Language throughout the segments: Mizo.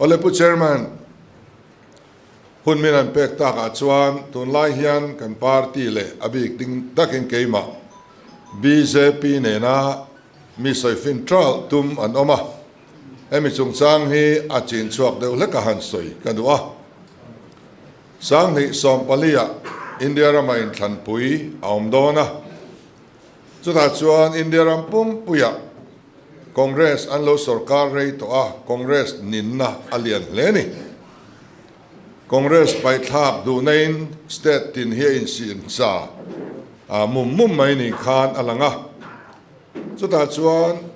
Olepu Chairman, hun min an pek tak ah chuan tunlai hian kan party leh a bik ding tak in keimah BJP nena mi sawi fin tralh tum an awm a, hemi chungchang hi a chin chhuak deuh hlek a han sawi ka duh a. Sanghnih sawmpali ah India ram a in thlanpui a awm dawn a. Chutah chuan India ram pumpuiah Congress an lo sorkar rei tawh a, Congress ninna a lian hle ni. Congress paihthlak duhnaiin state tin hi a insiamcha mum mum mai ni khan a lang a. Chutah chuan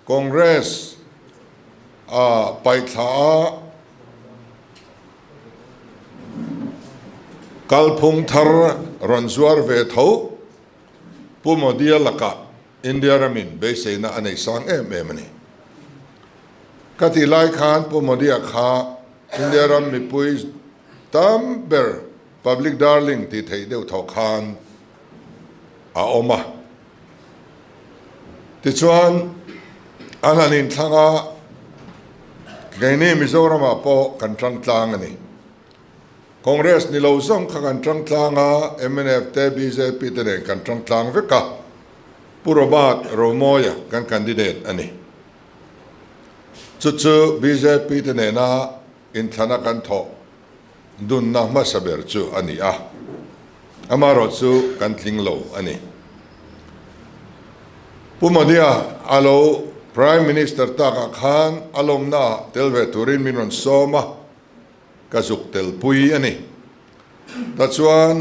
Congress a paithla a kalphung thar rawn zuar ve tho. Pu Modia laka India ramin beiseina a nei sang em em a ni. Ka tih lai khan Pu Modia kha India ram mipui tam ber public darling tih theih deuh tho khan a awm a. Tichuan an han inthlanga kei nge Mizoramah pawh kan tangtlang a ni. Congress ni lo zawng kha kan tangtlang a, mnf te bjp te nen kan tangtlang vek a, Pu Robert Romoia kan candidate a ni. Chu chu bjp te nena inthlana kan thawh dunna hmasa ber chu a ni a, amaherawh chu kan tling lo a ni. Pu Modia a lo Prime Minister takah khan a lawmnaah tel ve turin min rawn sawm a. Ka zuk tel pui a ni. Ta chuan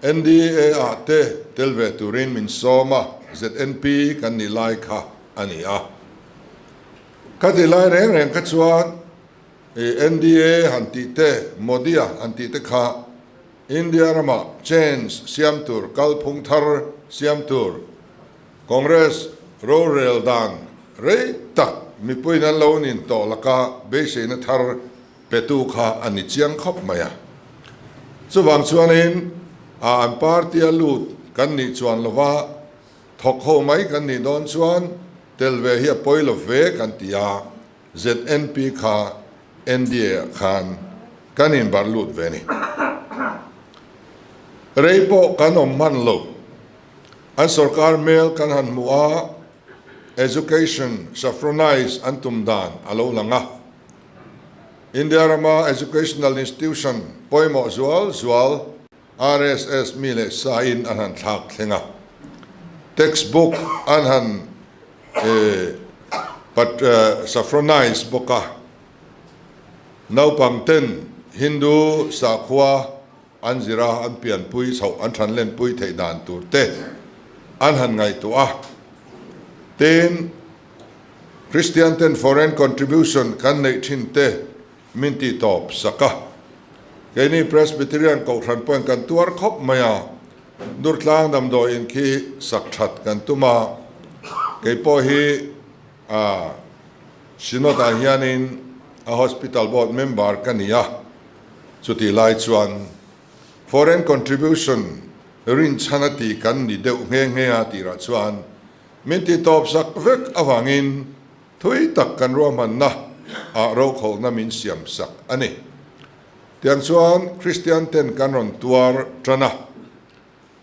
NDA ah te tel ve turin min sawm a, ZNP kan nih lai kha a ni a. Ka ti lai reng reng kha chuan i NDA han tih te, Modi a han tih te kha India ramah change siam tur, kalphung thar siam tur, Congress rorel dan rei tak mipuiin an lo nin tawh laka beiseina thar petu kha a ni chiang khawp mai a. Chuvang chuanin a an party a lut kan nih chuan lova thawk ho mai kan nih dawn chuan tel ve hi a pawi lo ve kan ti a, ZNP kha NDA ah khan kan in barh lut ve ni. Rei pawh kan awm hman lo. An sorkar hmel kan han hmu a, education saffronise an tum dan a lo lang a. India rama educational institution pawimawh zual zual RSS mi leh sa in an han thlak thleng a, text book an han saffronise bawk a, naupang ten Hindu sakhua, An zira an pianpui chhoh an thanlen pui theih dan tur te an han ngaihtuah a, tin, Kristian ten foreign contribution kan neih thin te min ti tawp sak a. Keini Presbyterian kohhran pawn kan tuar khawp mai a, Nurtlang damdawiin khi sak that kan tum a, kei pawh hi, A Synod ah hianin a Hospital Board member ka ni a, chutih lai chuan Foreign contribution rinchhan a tih kan ni deuh nghe nghe a tirah chuan min tihtawp sak vek avangin thui tak kan ruahmanna ah rokhawkna min siam sak a ni. Tiang chuan Kristian ten kan rawn tuar tan a.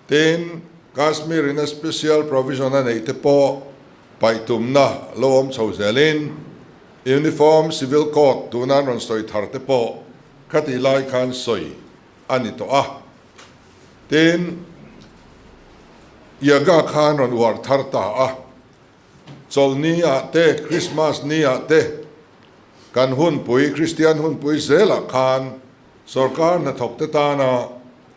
Tiin, Kashmir in a special provision a neih te pawh paih tumna lo awm chho zel in, Uniform Civil Code tuna an rawn sawi thar te pawh khatih lai khan sawi a ni tawh a. Tiin, Yaga khan rawn uar thar ta a. Chawlh ni ah te, Christmas ni ah te, kan hunpui, Kristian hunpui zel ah khan sawrkar hnathawk te tana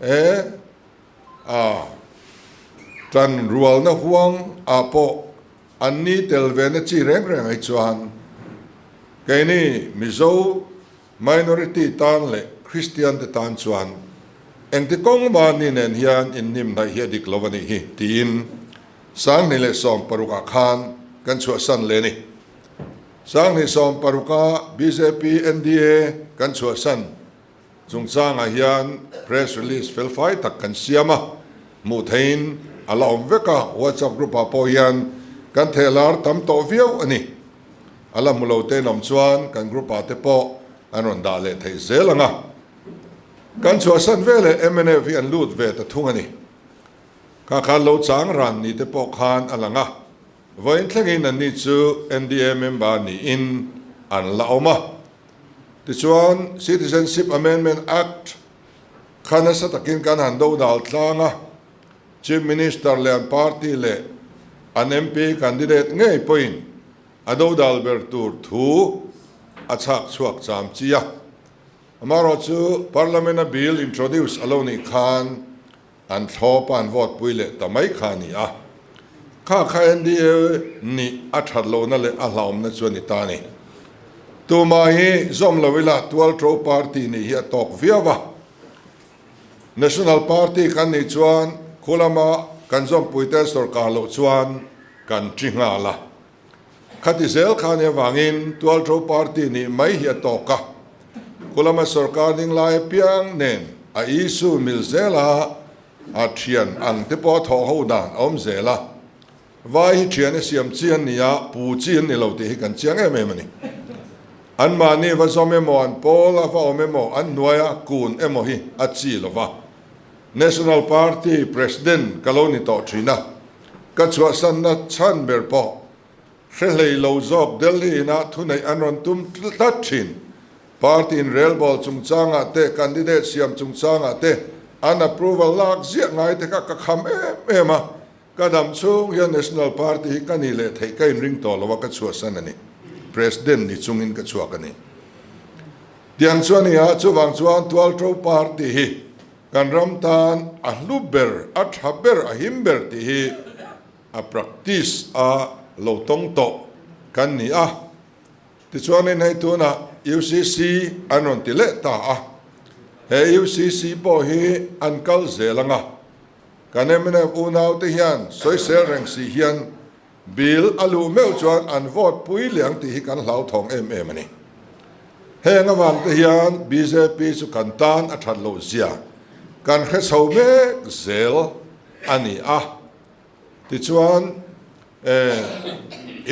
E a, tlan rualna huang ah pawh an ni tel ve na chi reng reng hi chuan kei ni Mizo minority tan leh Kristian te tan chuan engti kawng mah ni nen hian in hnim hnaih hi a dik lo a nih hi tiin Sanghnih leh Sawm paruk ah khan kan chhuahsan leh ni. Sanghnih Sawm paruk ah bjp NDA kan chhuahsan. Chungchangah hian press release felfai tak kan siam a, hmuh theihin a la awm vek a, WhatsApp group ah pawh hian kan thelar tam tawh viau a ni. A la hmu lo tein awm chuan kan group ah te pawh an rawn dah leh theih zel ang a. Kan chhuahsan ve leh mnf hi an lut ve ta thung a ni. Khakhan lo chang ran ni te pawh khan a lang a. Vawiin thlengin an ni chu NDA member niin an la awm a. Tichuan, Citizenship Amendment Act kha nasa takin kan han do dal tlang a, Chief Minister leh an party leh an MP candidate ngei pawhin a do dal ber tur thu a chhak chhuak cham chi a. Amaherawhchu, Parliament-a Bill introduce a lo nih khan An thlaw pan vote pui leh ta mai kha a ni a. Kha kha NDA nih a that lo na leh a hlaum na chu a ni ta ni. Tumah hi zawm lo ila tual to party nih hi a tawk viau a. National party kan nih chuan khulama kan zawmpui te sorkar loh chuan kan ti nghal a. Khati zel khan hi avangin tualṭo party nih mai hi a tawk a, khulama sorkar ding lai apiang nen a issue mil zela a ṭhian ang te pawh a thawh ho dan a awm zel a, vai hi ṭhian hi siam chi an ni a, pu chi an ni lo tih hi kan chiang em em a ni. Anmahni va zawm emaw an pawl a va awm emaw an hnuai a kun emaw hi a chi lo va, National Party President ka lo ni tawh ṭhin a, Ka chhuahsanna chhan ber pawh hre hlei lo zawk Delhi in a thuneih an rawn tum tlat thin. Party in relbawl chungchangah te, candidate siam chungchangah te an approval lak ziah ngai te kha ka kham em em a. Ka dam chhung hian National Party hi ka nih leh theih ka inring tawh lo a, ka chhuahsan a ni. President ni chungin ka chhuak a ni. Tiang chu a ni a, chuvang chuan Tualto Party hi Kan ram tan a hlu ber, a tha ber, a him ber tih hi a practice a lo tawng tawh kan ni a. Tichuanin hei tunah UCC an rawn ti leh ta a, he UCC pawh hi an kal zel anga, kan mnf unaute hian sawisel reng si hian, Bill a luh meuh chuan an vote pui liang tih hi kan hlauthawng em em a ni. Heng avangte hian bjp chu kan tan a that loh zia kan hre chho mek zel a ni a. Tichuan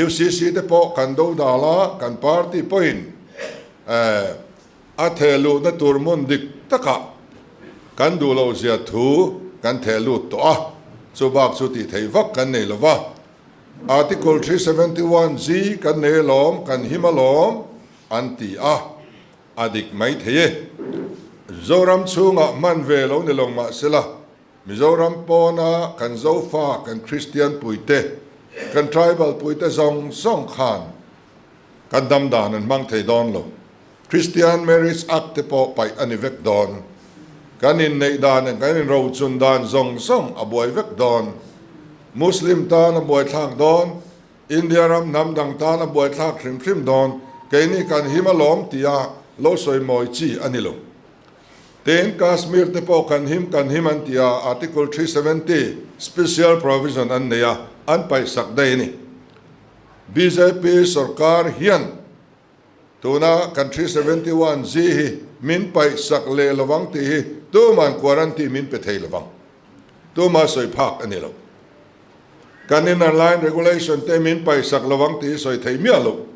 UCC te pawh kan dodal a, kan party pawhin A theh luhna tur hmun dik takah kan duh lo zia thu kan theh lut tawh a, chu bak chu tih theih vak kan nei lo va. Article three seventy one ji kan nei alawm, kan him alawm an ti a, a dik mai thei e. Mizoram chhungah hman ve lo ni lo mah se la, Mizoram pawna kan Zofa, kan Kristian puite, kan Tribal puite zawng zawng khan kan dam dan an hmang thei dawn lo. Christian Marriage Act te pawh paih a ni vek dawn. Kan inneih dan ah kan inrochun dan zawng zawng a buai vek dawn. Muslim tan a buaithlak dawn, India ram hnam dang tan a buaithlak hrim hrim dawn, keini kan him alawm tia lo sawi mawi chi a ni lo. Tiin Kashmir te pawh kan him kan him an tia Article three seventy Special Provision an nei a, an paihsak daih a ni. Bjp sorkar hian. Tuna kan three seventy one Z hi min paih sak leh lovang tih hi tuma'n quarantine min pe thei lovang tuma sawi phak a ni lo. Kan innerline regulation te min paih sak lovang tih hi sawi thei miah lo.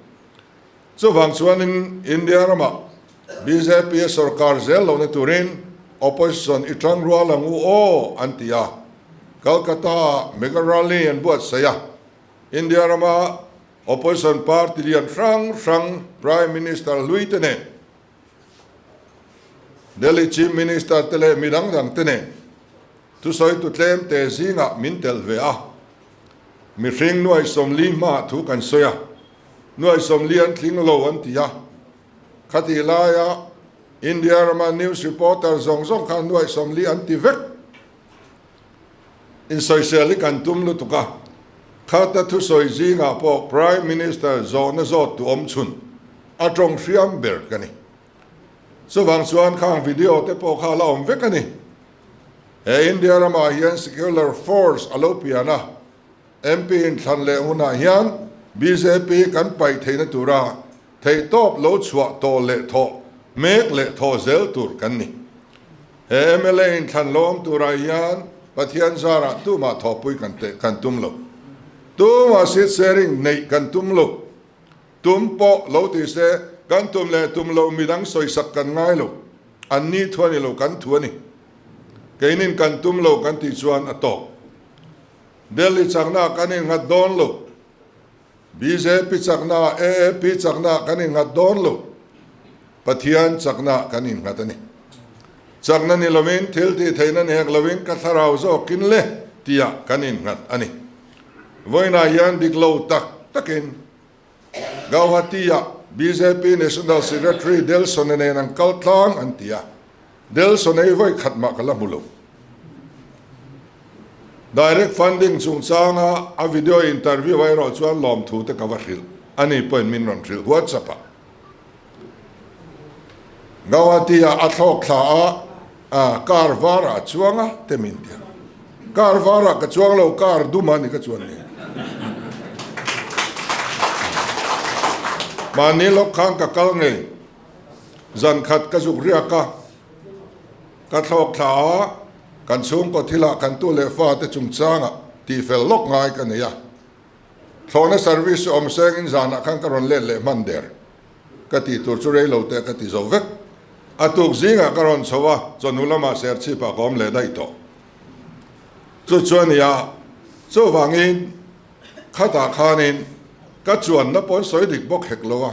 Chuvang chuanin India ramah bjp sorkar zel lohna turin opposition i tang rual ang u aw an ti a. Kolkata ah mega rally an buatsaih a. India rama. Opposition party lian hrang hrang, Prime Minister hlui te nen, Delhi Chief Minister te leh mi dang dang te nen thusawitu tlem te zingah min telh ve a, mihring nuaisawmli hma thu kan sawi a, nuaisawmli an tling lo an ti a. Khatih laia India rama news reporter zawng zawng khan nuaisawmli an ti vek. Insawisawi hi kan tum lutuk a, Kharta thusawi zingah pawh Prime Minister zawhna zawt tuam chhun a tawng hriam ber ka ni. Chuvang chuan khang video te pawh kha a la awm vek a ni. He India ramah hian secular force a lo pian a, MP in thlan leh hunah hian bjp kan paih theihna tura theihtawp lo chhuah tawh leh thawh mek leh thawh zel tur kan ni. He mla in thlan lawm turah hian Pathian zarah tumah thawhpui kan teh kan tum lo. Tumah seat sharing neih kan tum lo. Tum pawh lo ti se, kan tum leh tum loh midang sawi sak kan ngai lo. Anni thu a ni lo, kan thu a ni. Keinin kan tum lo kan tih chuan a tawk. Delhi chaknaah kan in nghat dawn lo. Bjp chaknaah AAP chakna kan inghat dawn lo, Pathian chakna kan inghat a ni. Chakna ni lovin, thil tih theihna ni hek lovin ka thlarau zawkin le tia kan inghat a ni. Vawiinah hian dik lo tak takin Gauhati-ah bjp National Secretary Delson-a nen an kal tlang an ti a. Delson ei vawi khat mah ka la hmu lo. Direct funding chungchanga a video interview erawh chuan lawmthu te ka va hrilh a ni pawhin min rawn hrilh huat sap a. Guwahati-ah a thlawk thla a car var ah chuang a te min ti a. Car var ah ka chuang lo car dum ah ni ka chuan ni. Mahni lawk khan ka kal ngei. Zan khat ka zuk riak a, ka thlawk thla a, kan chhungkaw thilah kan tu leh fate chungchangah tihfel lawk ngai ka nei a. Thlawhna service chu awm sengin zanah khan ka rawn let leh hman der. Ka tih tur chu rei lo teh ka ti zo vek. A tuk zingah ka rawn chho a, chawnu lamah serchhip ah ka awm leh daih tawh. Chu chuan nia, chuvangin. Khatah khanin ka chuan na pawn sawi dik bawk hek lo a,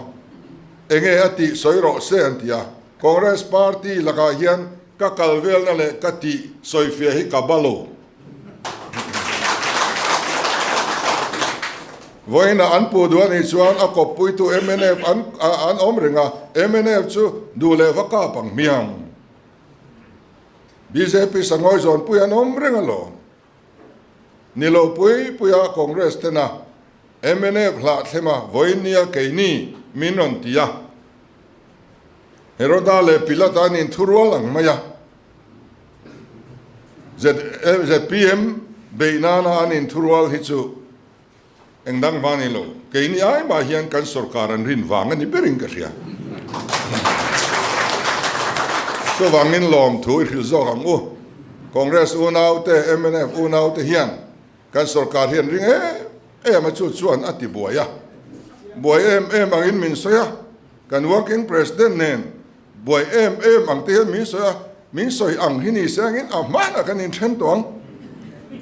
enge a tih sawi rawh se an ti a, Congress party lakah hian ka kal velna leh ka tih sawi fia hi ka ba lo. Vawiinah an pu duh a nih chuan a kawp puitu mnf an an awm reng a, mnf chu duh leh va kap ang hmiang, bjp sanghawi zawnpui an awm reng alawm. Ni lo pui pui a Congress tena mnf hlah thlema vawi nia keini min rawn ti a. Heroda leh Pilat an in thu rual ang mai a. Zpm beih nana an in thu rual hi chu. Eng dang vang nei lo, kei ni ai mah hian kan sorkar an rin vang a ni ber in ka hria. Chuvang in lawmthu i hrilh zawk ang u. Congress unau te, mnf unau te hian kan sorkar hi an ring em em a chu chuan a ti buai a. Buai em em ang in min sawi a, kan working president nen, Buai em em ang te hian min sawi a, min sawi ang hi ni siangin a hman ah kan in then tawh ang,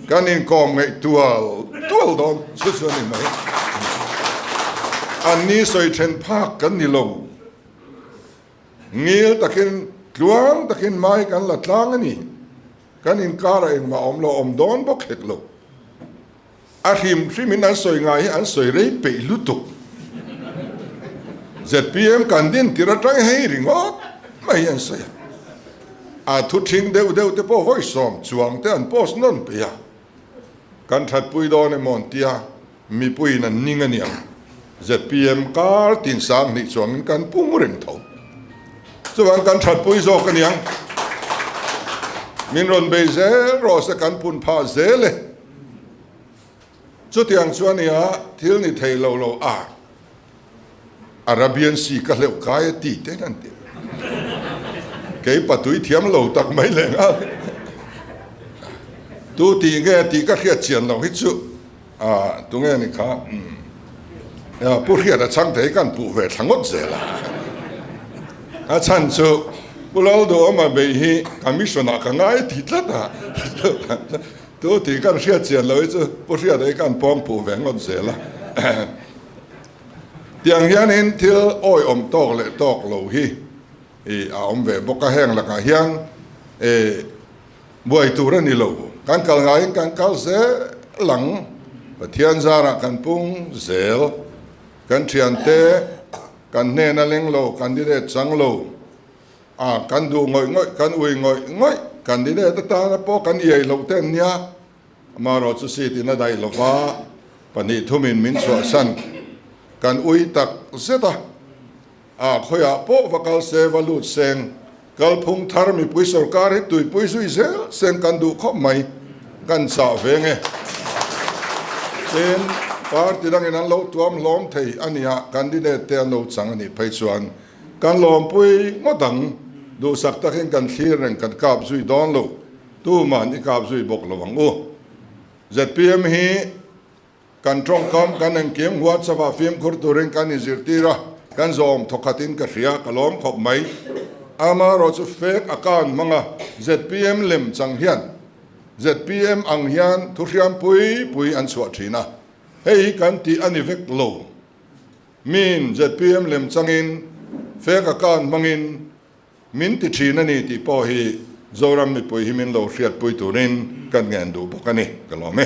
kan in kawm ngeih tual tual dawn chu chu a ni mai. An ni sawi then phak kan ni lo, ngil takin tluang takin mai kan la tlang a ni, kan inkar ah engmah awm lo awm dawn bawk hek lo. A hrim hrimin an sawi ngai hi an sawi rei peih lutuk. Zpm kan din tir atang hi ringawt mai hi an sawi a. A thu thing deuh deuh te pawh vawi sawm chuang te an post nawn peih a. Kan thatpui dawn emaw an tia mipuiin an ning ania. Zpm kar tin sang hnih chuangin kan pung reng tho. Chuvang kan thatpui zawk ania. Min rawn bei zel rawh se kan pun phah zel e. Chutiang chuan nia thil ni thei lo lo a, Arabian Sea ka hleuh kai a ti tein an ti. Kei patui thiam lo tak mai leh ngai. Tu ti nge tih ka hriat chian lo hi chu a tu nge ni kha umm Pu Hriata chhang thei kan puh ve thla ngawt zel a. A chhan chu Pu Lalduawma bei hi Commission ah ka ngai ti tlat a. Chu tih kan hriat chian lo hi chu pu hriat ei kan pawm puh ve ngawt zel a tiang hian in thil awi awm tawk leh tawk lo hi a awm ve bawk a heng lakah hian buai tur a ni lo kan kal ngai in kan kal zel ang Pathian zar ah kan pung zel kan thiante kan hnen a leng lo candidate chang lo. A, kan duh ngawih ngawih, kan ui ngawih ngawih, candidate atana pawh kan iai hlauh te an nia, amaherawh chu seat in a daih lo va, pahnih thum in min chhuahsan, kan ui tak zet a, a khawiah pawh va kal se, va lut seng, kalphung thar mipui sorkar hi tuipui zui zel seng kan duh khawp mai, kan chah ve nge, tin party dangin an lo tuam hlawm thei ania candidate te an lo chang anih phei chuan Kan lawmpui ngawt ang, duhsak takin kan thlir reng kan kap zui dawn lo, tuma'n i kap zui bawk lo ang u. Zpm hi kan tawngkam, kan engkim, WhatsApp ah fimkhur turin kan inzirtir a, kan zawm thawkhatin ka hria, ka lawm khawp mai. Amarawh chu fake account hmanga zpm lem chang hian zpm ang hian thuhriampui pui an chhuah thin a, hei hi kan tih a ni vek lo. Min zpm lem changin fake account hmangin min ti thin a ni tih pawh hi Zoram mipui hi min lo hriatpui turin kan ngen duh bawk a ni ka lawm e.